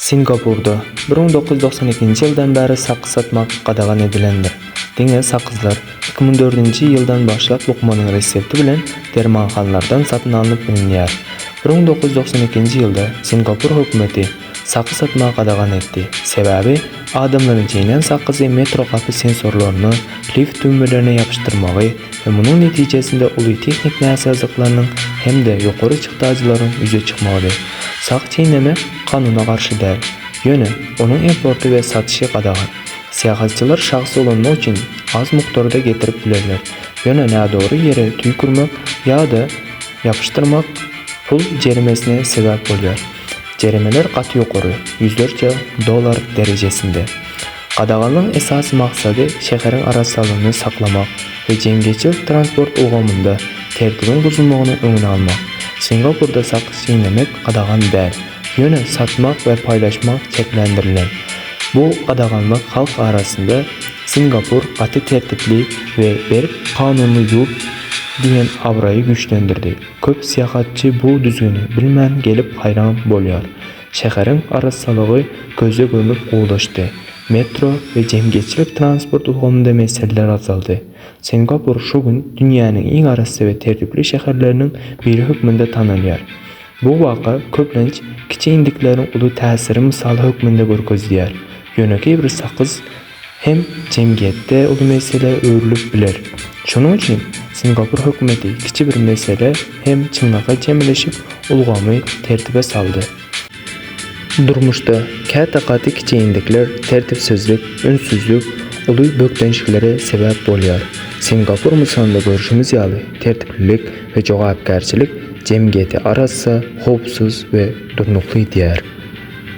Singapurda bir müň dokuz ýüz doksan ikinji ýyldan bäri sakgyz satmak gadagan edilendir. Diňe sakgyzlar iki müň dördünji ýyldan başlap lukmanyň resepti bilen dermanhanlardan satyn alnyp bilinýär. Bir müň dokuz ýüz doksan ikinji ýylda Singapur hökümeti sakgy satmagy gadagan etdi, sebäbi Adamlaryň çeýnän sakyzy metro gapy sensorlaryny lift düwmelerine ýapyşdyrmagy we munuň netijesinde uly tehnik näsazlyklarynyň hem-de ýokary çykdajylaryň ýüze çykmagydy. Sak çeýneme kanuna garşy däl, ýöne onuň importy we satyşy gadagan. Syýahatçylar şahsy ulanmak üçin az mukdarda getirip bilerler, ýöne nädogry ýere tüýkürmek ýa-da ýapyşdyrmak pul jerimesine sebäp bolýar. Jeremeler gaty ýokary, ýüzlerçe dollar derejesinde. Gadaganyň esasy maksady şäheriň arassalygyny saklamak we jemgyýetçilik transport ulgamynda tertibiň buzulmagynyň öňüni almak. Singapurda sakys çeýnemek gadagan däl, ýöne satmak we paýlaşmak çäklendirilen. Bu gadaganlyk halk arasynda Singapur gaty tertipli we berk kanunly ýurt diýen abraýy güýçlendirdi. Köp syýahatçy bu düzgüni bilmän gelip haýran bolýar. Şäheriň arassalygy göze gömüp gowulaşdy. Metro we jemgyýetçilik transport ulgamynda meseleler azaldy. Singapur şu gün dünýäniň iň arassa we tertipli şäherleriniň biri hökmünde tanalýar. Bu waka köplenç kiçi indikleriň uly täsiri mysaly hökmünde görkezilýär. Ýönekeý bir sakyz hem jemgyýetde uly meselä öwrülip biler. Şonuň üçin Singapur hökümeti kiçi bir mesele hem çyňňaka çemeleşip, ulgamy tertibe saldy. Durmuşda käte gaty kiçeýinlikler, tertipsizlik, ünssüzlik uly bökdençliklere sebäp bolýar. Singapur mysalynda görşümiz ýaly, tertiplilik we jogapkärçilik jemgyýeti arassa, howpsuz we durnukly edýär.